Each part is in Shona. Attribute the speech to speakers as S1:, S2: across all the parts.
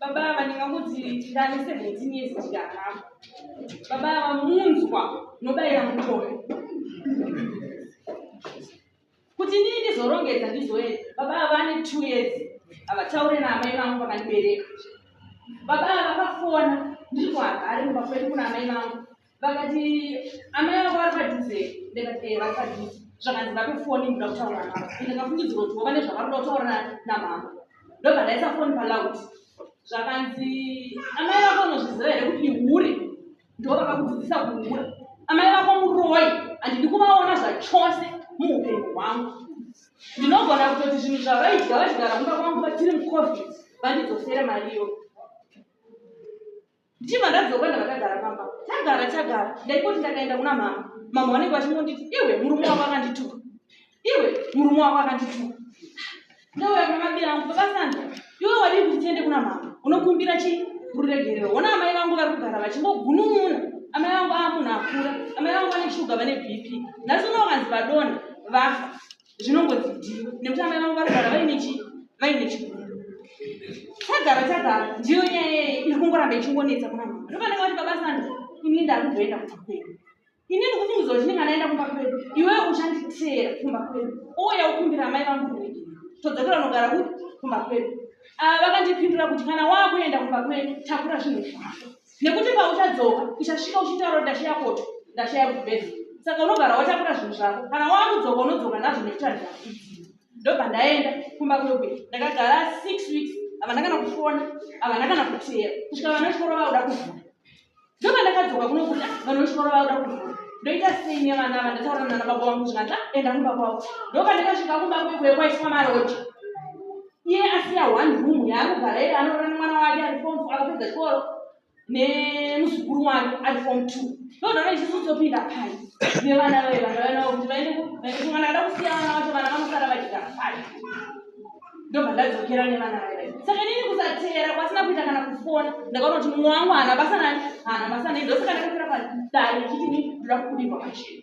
S1: baba ava ndingamuti ndane 17 years tikaramba baba ava munzwa nobayira mutore kuti ndii ndizorongedza ndizoenda baba ava vane two years havataure naamai vangu vakandibereka baba ava vakafona ndiri kuhagari mumba kwedu kuna amai vangu vakati amai vako vari padhuze ndikati ee eh, vari padhuze zvakanzi vape foni ndoda kutaura navo ndikafungidzirwa kuti vova nezvavari kuda kutaura namama ndobva ndaisa foni paloud zvakanzi amai vako unozviziva here kuti ihuri ndo vakakudzidzisa kuhura amai vako muroi handidi kuvaona zvachose muupenyu hwangu ndinogona kutoti zvinhu zvavaidya vachigara kumba kwangu vachiri mucovid vandidzosere mariyo ndichibva ndabva kwenda vakagara pamba tagara tagara ndaingoti ndakaenda kuna mama mama vanenge vachingonditi iwe murume wako akandituka iwe murume wako akandituka ndauya kuna mabira angu babasanda iwe wadii kuti tiende kuna mama unokumbira chi ruregerero ona amai vangu vari kugara vachingogunun'una amai vangu aa munhu akura amai vangu vane shuga vane bp nhasi unowanzi vadona vafa zvinongonzi ndiyo nekuti amai vangu varugara vaine chi vaine chigumbu tagara tagara ndiyo nyaya yeye iri kungoramba ichingonetsa kuna mama ndokanenge vati baba sanda ini ndakuzoenda kumba kwedu ini ndikufungiza kuti ndinga ndaenda kumba kwedu iwewe uchanditeera kumba kwedu ouya ukumbira amai vangu kuregera todzokera unogara kuti kumba kwedu ava vakandipindura kuti kana waakuenda kumba kwedu takura zvinhu zvako nekuti pauchadzoka uchasvika uchitaura kuti ndashaya koto ndashaya kubhedha saka unogara watakura zvinhu zvako kana waakudzoka unodzoka nazvo nekuti handizakudii ndobva ndaenda kumba kweku ndakagara six weeks havana kana kufona havana kana kuteera kusvika vana vechikoro vauda kuvhura ndobva ndakadzoka kunokuti ah, vana vechikoro vauda kuvhura ndoita sei nevana ava ndataura nana baba vangu zvikanzi ah, enda kumba kwavo ndobva ndakasvika kumba kwekwekwaisikwa maroja iye asiya one room yaanogara iye anorora nemwana wake ari form four akapedza chikoro nemuzukuru wake ari form two ndodara isusu topinda pai nevana vaye vana vainavo kuti vaende kumwana ada kusiya vana vacho vana vanosara vachigara pai ndobva ndadzokera nevana vaye saka nini kusateera kwasina kuita kana kufona ndakaona kuti mumwe wangu haana basa nani haana basa nei ndosaka ndakafira padare ichiti ni ndoda kukudirwa pachena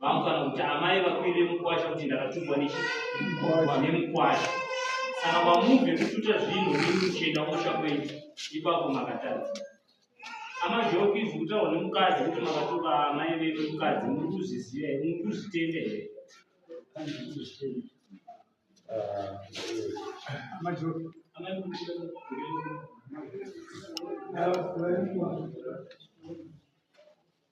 S2: vangu kana kuti amai vakuru vemukwasha kuti ndakatungwa nemukwasha saka pamuve kututa zvinhu nemuchenda kusha kwenyu ipapo makatadza amazhokizi kutaura nemukadzi kuti makatuka amai veve mukadzi muri kuzviziva here muri kuzvitenda here Thank you.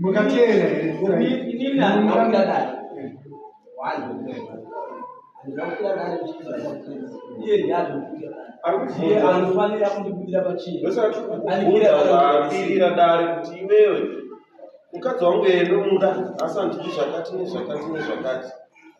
S3: mukateera anofanira kundibudira pachinoairira dare kuti iwewe mukadzi wangu eye ndomuda asi handiti zvakati nezvakati nezvakati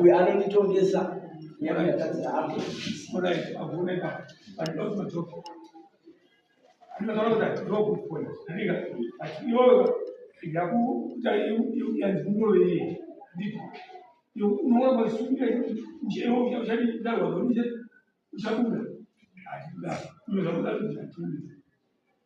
S3: uyu anonditongesa nyama yatadzira hake uchabuda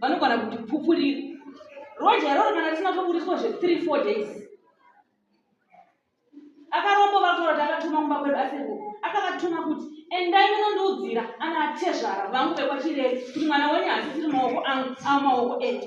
S1: vanogona kuti pupuriri roja iroro kana risina toburiswa zve three four days akarombo vataura kuti akatuma kumba kwedu asiriku akavatuma kuti endai munondiudzira ana atezvara vangu vekwachireri kuti mwana wenyu hasisiri maoko angu amaoko edu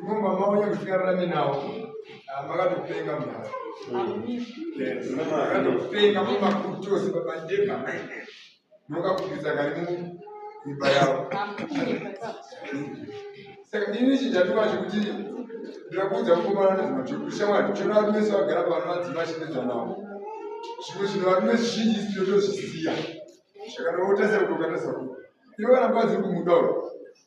S4: imumba mavo yakusikararame navo ah, makatopenga mhaa makatopenga mumakutose babandeka mokakupisa kari muimba yavo saka ini chijatuka chekuti ndirakuudza kukomana nezvimatikushamwari chonavari mese vagara pavano vadzima chinedza navo zvimwe zvinhu vari nezvizhinji sitotozvisiya zvakanaotasira kutokatasau ivo kana mukadzi uri kumuda uri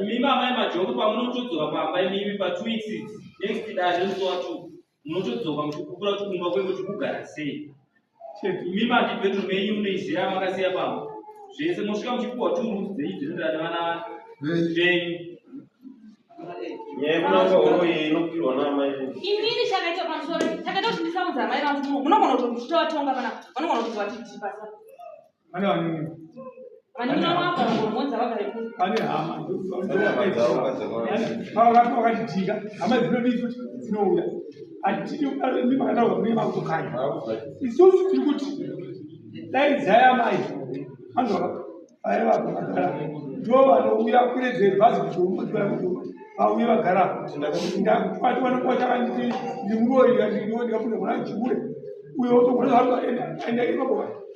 S2: imimi amai majongo pamunotodzoka pamba imimi patwo weeks next dare ndosowa two munotodzoka muchikukura tukumba kwenge tikugara sei imimi handi bedroom yenyu munoiziva yamakasiya pamba zvese mosvika muchipuwa two rooms dzenyu dzinodana vana venyu imini chakaita pamusoro chakaita kuti ndisaudza amai vangu munogona
S1: kuti muchitovatonga kana vanogona kuti vatitii pasa
S4: Pane vanini? Pane hama vakatitika hama dzinodii futi dzinouya hatidi kudaro imi makataurwa kune makutokanya isusu tiri kuti dai dzaya mai anzwa vaya vakagara ndo vanouya kuredzei bhazi kuzomudzira kuti vauye vagara ndakati vanokuwa chakanditi ndimuroyi ndikapinda mwana chikure uyo otogona zvaanoenda ipapo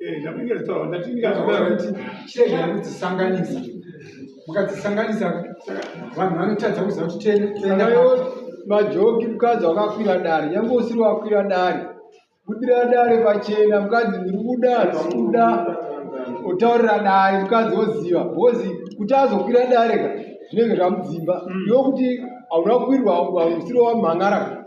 S5: Eh, mukadzisanganisa mukadzisanganisa vanhu vanotadza kuziva kuti tendayo majoki mukadzi wakakwira dare nyange usiri wakwira dare budira dare pachena mukadzi ndiri kuda zvikuda otaurira dare mukadzi oziva bcoz kuti azokwira dare ka zvinenge zvamudzimba mm. yokuti hauna kukwirwa usiri wamhan'ara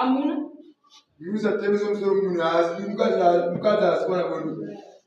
S5: Amuna. Musa teve somsoro munhu asi mukadzi mukadzi asi kwana kwedu.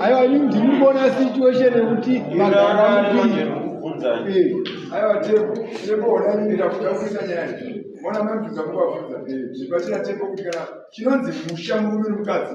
S1: aiwa ini ndiri
S5: kuona situation yekuti aiwa tepo tepo ona mimi ndakuda kuita nyaya mona mabvunza kuvabvunza zvibatsira tepo kuti kana chinonzi musha murume nomukadzi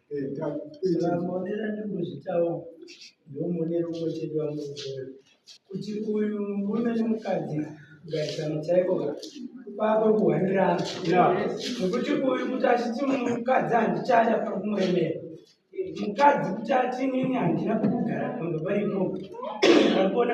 S6: Maonero andikuzvitawo ndomonero mochedi wangu kuti uyu murume nemukadzi kugarisana chaiko kwako kuhwanirana nokuti uyu kuti achiti mukadzi handichada pari kumuemera mukadzi kuti ati inini handina kugara pamba paripo akuona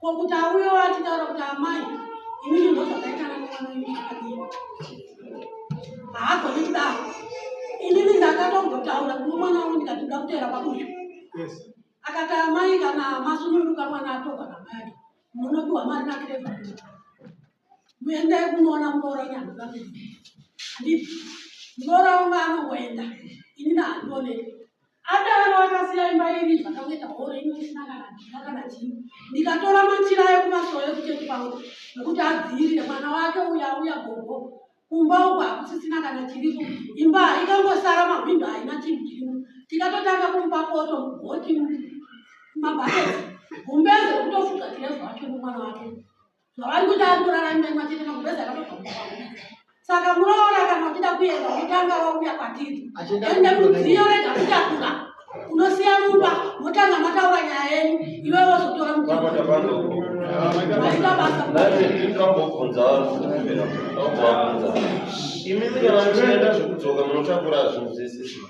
S7: Ko kuti auyo achitaura kuti amai inini ndozvakaitana nemwana wenyu zvakadini? Haagoni kudaro. Inini ndakatombotaura kuno mwana wangu ndikati ndoda kuteera pabuyo. Akati amai kana masununguka mwana atogwa namai ake munopiwa mari nakrevha. muendai kunoona murooroni handina kuenda handii muroora wangu anongoenda ini nahandionei adaro akasiya imba iri zvakangoita horo ini isina kana dina kana chii ndikatora machira ekumasowo ekuchechi kwangu nekuti adziirire mwana wake uya uya gogo kumba uku hakusisina kana chiriko imba haikangosara mahwindo haina chinhu chirimo tikatotanga kumupa poto mugoti mabhaketi gumbeze kutofuga tirezvaake mumwana wake zvavari kuita ari kuraramira matete makubeza saka muroora kana uchida kuenda wotanga wauya kwatiri ende mudziyo rega kutakura unosiya mumba motanga mataura nyaya yenyu iwe wozotora muaita basa imimi kana
S3: muchienda zvekudzoka munotakura zvinhu zvese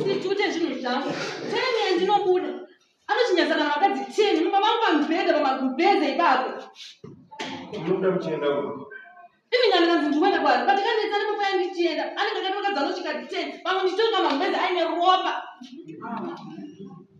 S6: ndichute
S1: zvinhu zvangu tene ndinobuda anochinyaza kana vakadzi teni mumba vangu pamubhedha pamagubhedha ipapo
S3: unoda kuchienda kupi imi ndandikanzi
S1: ndikuenda kwari but kanetsa nepapaya ndichienda anenge akati vakadzi anosvika teni pamwe ndichitoka mamubhedha aine ropa ah.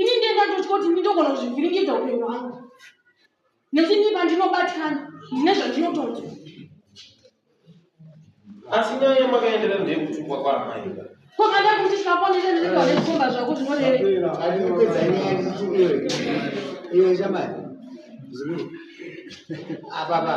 S1: Ini ndiye ndandotya kuti ndinogona kuzvivhiringidza upenyu hwangu nekuti ndiba ndinobatikana ndine zvandinotonzwa
S3: asi nyaya yamakaenderera ndeyekutukwa kwaamaika kokanda kuti
S1: tikaponesa ndinenge vanezikomba
S6: zvako zvinorevera Iwe shamari. Zulu. Apa apa.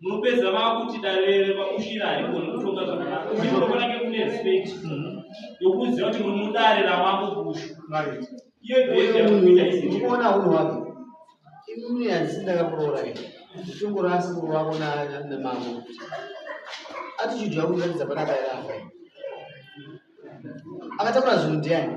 S2: munopedza vakuti dare vakushira hariko nekutonga zvakanaka uye munofana ke kune respect yokuziva kuti muri mudare ramambo bushu iye bhezi yakuita iziona uno wake
S6: imimi hanzi ndakakuroora shungu rasi wako namambo attitude yakuratidza panaka yaafa akataura zvinhu ndiani